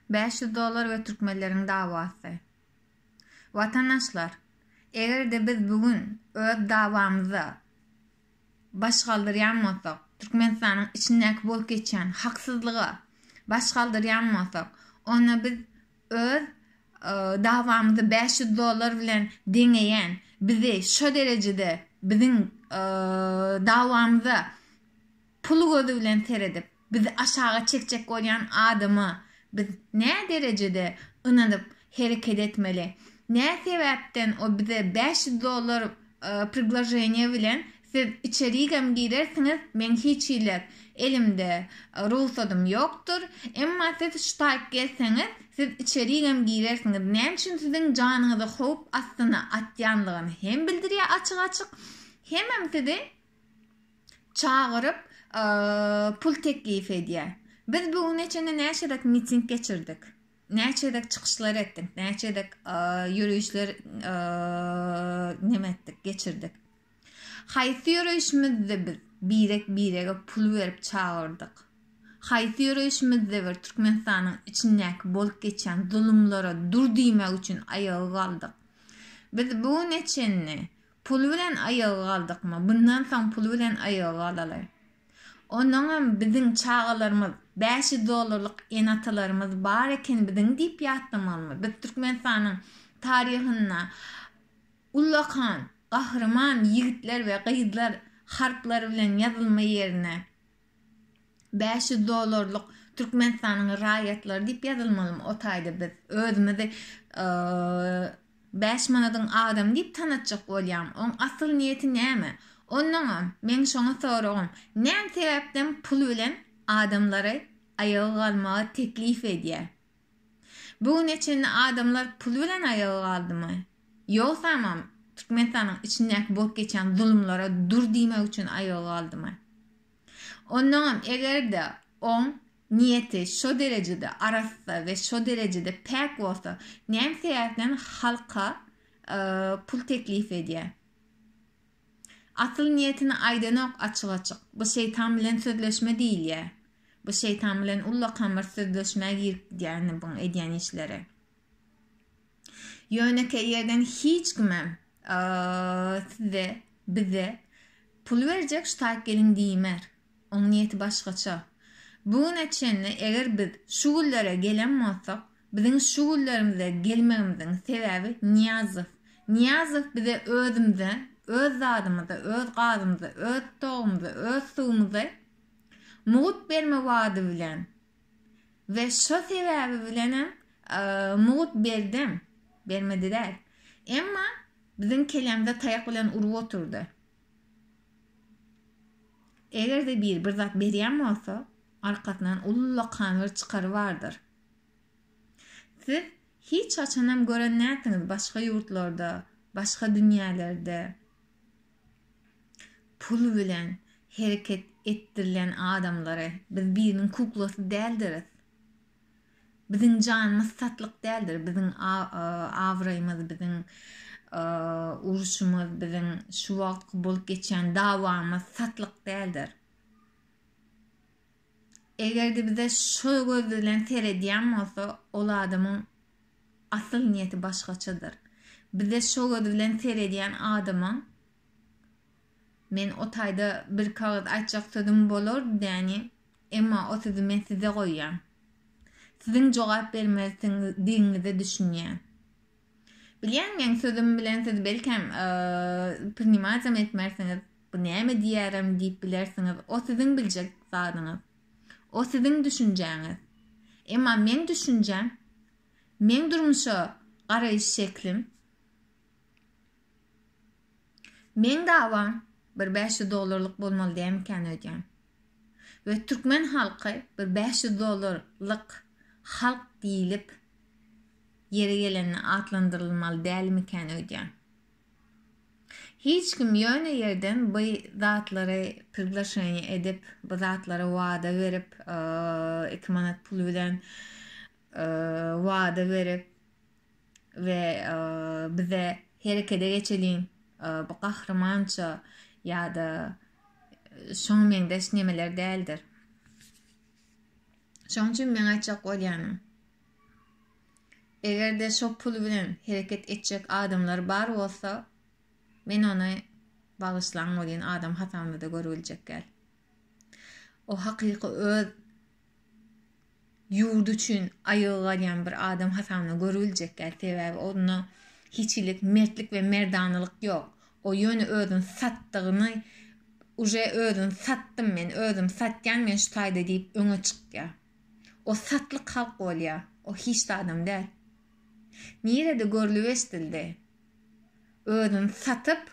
Bäş ýüz dollar we türkmenleriň dawasy. Watandaşlar, eger-de biz bu gün öz dawamyza baş galdyrýan bolsak, Türkmenistanyň içindäki bolup geçýän haksyzlyga baş galdyrýan bolsak, onda biz öz dawamyzy bäş ýüz dollar bilen deňeýän, bizi şo derejede biziň dawamyza Pul gözi bilen seredip, bizi aşaga çekjek bolýan adama biz nä derejede ynanyp hereket etmeli? Nä sebäpden o bize bäş ýüz dollar prigloženiýe bilen siz içerigem girersiňiz, meň hiç hili elimde rugsadym ýokdur, emma siz ştaýk gelseňiz, siz içerigem girersiňiz, näme üçin siziň janyňyzy howp astyna atýandygyny hem bildirýär açyk-açyk, hemem sizi çagyryp, pul teklip edýär. Biz bu güne çenli näçe gezek miting geçirdik, näçe gezek çykyşlar etdik, näçe gezek ýörişler neme etdik, geçirdik. Haýsy ýörişimizde biz birek-birege pul berip çagyrdyk? Haýsy ýörişimizde bir Türkmenistanyň içindäki bolup geçýän zulumlara dur diýmek üçin aýaga galdyk? Biz bu güne çenli Pul bilen aýaga galdykmy, bundan soň pul bilen aýaga galaly. Onuňam biziň çagalarymyz, bäş ýüz dollarlyk ene-atalarymyz bar eken biziň diýip ýatlamalymy? Biz Türkmenistanyň taryhynda ullakan, gahryman ýigitler we gyzlar harplar bilen ýazylma ýerine, Bäş ýüz dollarlyk Türkmenistanyň raýatlary diýip ýazylmalymy o taýda biz özümizi bäş manadyň adamy diýip tanatjak bolýamy oň asyl niýeti näme onnoňam meň şoňa soragym näme sebäpden pul bilen adamlary aýaga galmaga teklip edýä. Bu güne çenli adamlar pul bilen aýaga galdymy? Ýogsamam, Türkmenistanyň içindäki bolup geçýän zulumlara dur diýmek üçin aýaga galdymy? Ondaňam eger-de oň niýeti şo derejede arassa we şo derejede päk bolsa, näme sebäpden halka pul teklip edýär? Asyl niýetini aýdanok açyk-açyk. Bu şeýtan bilen sözleşme diýilýä. Bu şeýtan bilen ullakan bir sözleşmä girip gidýäni buň edýän işleri. Ýönekeý ýerden hiç kimem size, bize pul berjek ştaýk geliň diýmer. Oň niýeti başgaça. Bu güne çenli eger biz şu günlere gelen bolsak, biziň şu günlerimize gelmegimiziň sebäbi Nyýazow. Nyýazow bize özümize, öz zadymyza, öz gazymyza, öz togumyza, öz suwumyza mugut berme wady bilen we şo sebäbi bilenem mugut berdem, bermedi däl. Emma biziň kelemize taýak bilen urup oturdy. Eger-de biri bir zat berýän bolsa, arkasyndan ullakan bir çykary bardyr. Siz hiç haçanam gören nätdiňiz başga ýurtlarda, başga dünýälerde pul bilen hereket etdirilen adamlary. Biz biriniň kuklasy däldiris. Biziň janymyz satlyk däldir, biziň abraýymyz, biziň uruşymyz, biziň şu wagtky bolup geçýän dawamyz satlyk däldir. Eger-de bize şu göz bilen seredýän bolsa, ol adamyň asyl niýeti başgaçadyr. Bize şu göz bilen seredýän adamyň Men o taýda bir kagyz aýtjak sözüm bolardy, däni. Emma o sözi men size goýýan. Siziň jogap bermelidigiňize düşünýän. Bilýän meň sözüm bilen siz belkäm prinimatam etmersiňiz, bu näme diýýärem diýip bilersiňiz, o siziň biljek zadyňyz. O siziň düşünjäňiz. Emma meň düşünjäm, meň durmuşa garaýyş şeklim. Meň dawam bir bäş ýüz dollarlyk bolmaly dämikäni öýdýän. We türkmen halky bir bäş ýüz dollar lyk halk diýlip ýeri gelende atlandyrylmaly dälmikäni öýdýän. Hiç kim ýöne ýerden by zatlary priglaşeniýe edip by zatlary wada berip iki manat pul bilen wada berip we bize herekede geçeliň bu gahrymança ýa-da şoňa meňzeş nemeler däldir. Şoň üçin meň aýtjak bolýanym. Eger-de şo pul bilen hereket etjek adamlar bar bolsa, men ony bagyşlaň bolýan adam hasabyna-da görübiljek däl. O hakyky öz ýurdy üçin aýaga galýan bir adam hasabyna görüljek däl, sebäbi onda hiç hili mertlik we merdanalyk ýok. O ýöne özüni satdygyny uje özüni satdym men, özümi satýan men şu taýda diýip öňe çykýar. O satlyk halk bolýar, o hiç de adam däl. Nirede görlüp-eşdildi? Özüni satyp,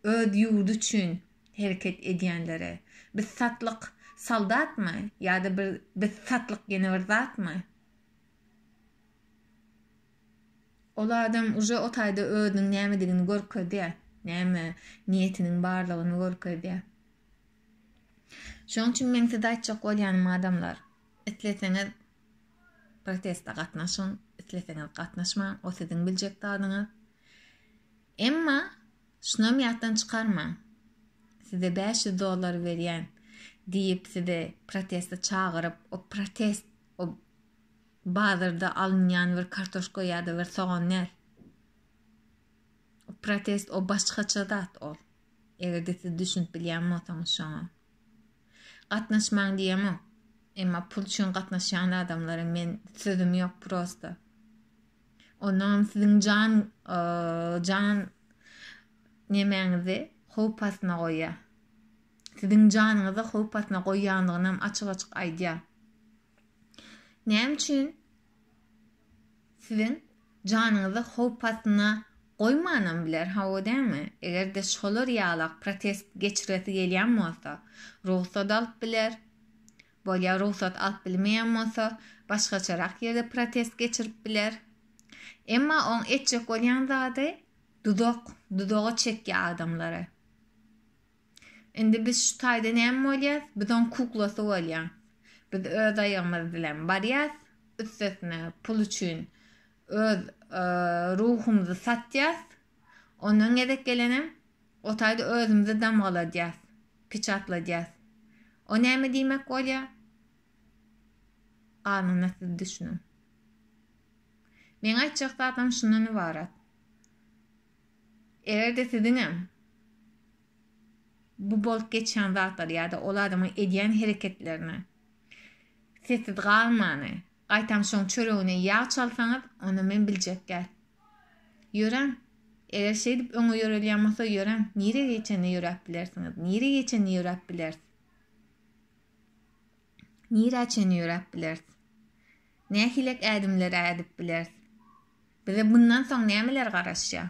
öz ýurdy üçin, hereket edýänlere, biz satlyk soldatmy ýa-da bir biz satlyk ýene bir zatmy? Ol adam uje o taýda özüniň nämedigini görkezýär, näme niýetiniň barlygyny görkezýär. Şoň üçin meň size aýtjak bolýanym adamlar, isleseňiz protesta gatnaşyň, isleseňiz gatnaşmaň, o siziň biljek zadyňyz. Emma, şunam ýatdan çykarmaň, size bäş ýüz dollar berýän diýip sizi proteste çagyryp, o protest o bazarda alynýan bir kartoşka ýa-da bir sogan däl. O protest o başgaça zat ol. Eger-de siz düşünip bilýän bolsaňyz şoňa. Gatnaşmaň diýemok. Emma pul üçin gatnaşýan adamlara men sözüm ýok prosta. Ondanam siziň jan jan nemäňizi howp astyna goýýar. Siziň janyňyzy howp astyna goýýandygynam açyk-açyk aýdýar. Näme üçin siziň janyňyzy howp astyna goýmanam biler, hawa dämi? Eger-de şolar ýalak protest geçiresi gelýän bolsa, rugsat alyp biler, Bolýar rugsat alyp bilmeýän bolsa, başgaçarak ýerde protest geçirip biler. Emma oň etjek bolýan zady dudak, dudaga çekýär adamlary. Indi biz şu taýda näme bolýas? Biz oň kuklasy bolýas. Biz öz aýagymyz bilen barýas, üstesine pul üçin öz ruhumyzy satýas. Ondan gezek gelenem O taýda özümizi damgaladýas, piçatladýas. O näme diýmek bolýa? Galanyna siz düşüniň. Meň aýtjak zadym şundan ybarat. Eger-de siziňem bu bolup geçýän zatlary ýa-da ol adamyň edýän hereketlerini sessiz galmany, Gaýtam şoň çöregine ýag çalsaňyz, onda men biljek däl. Ýöräň! Eger şeýdip öňe ýörelýän bolsa, ýöräň, nirä geçende ýöräp bilersiňiz, nirä geçende ýöräp bileris? Nirä çenli ýöräp bileris? Nähilek ädimler-ä ädip bileris? Bize bundan soň nämeler garaşýar?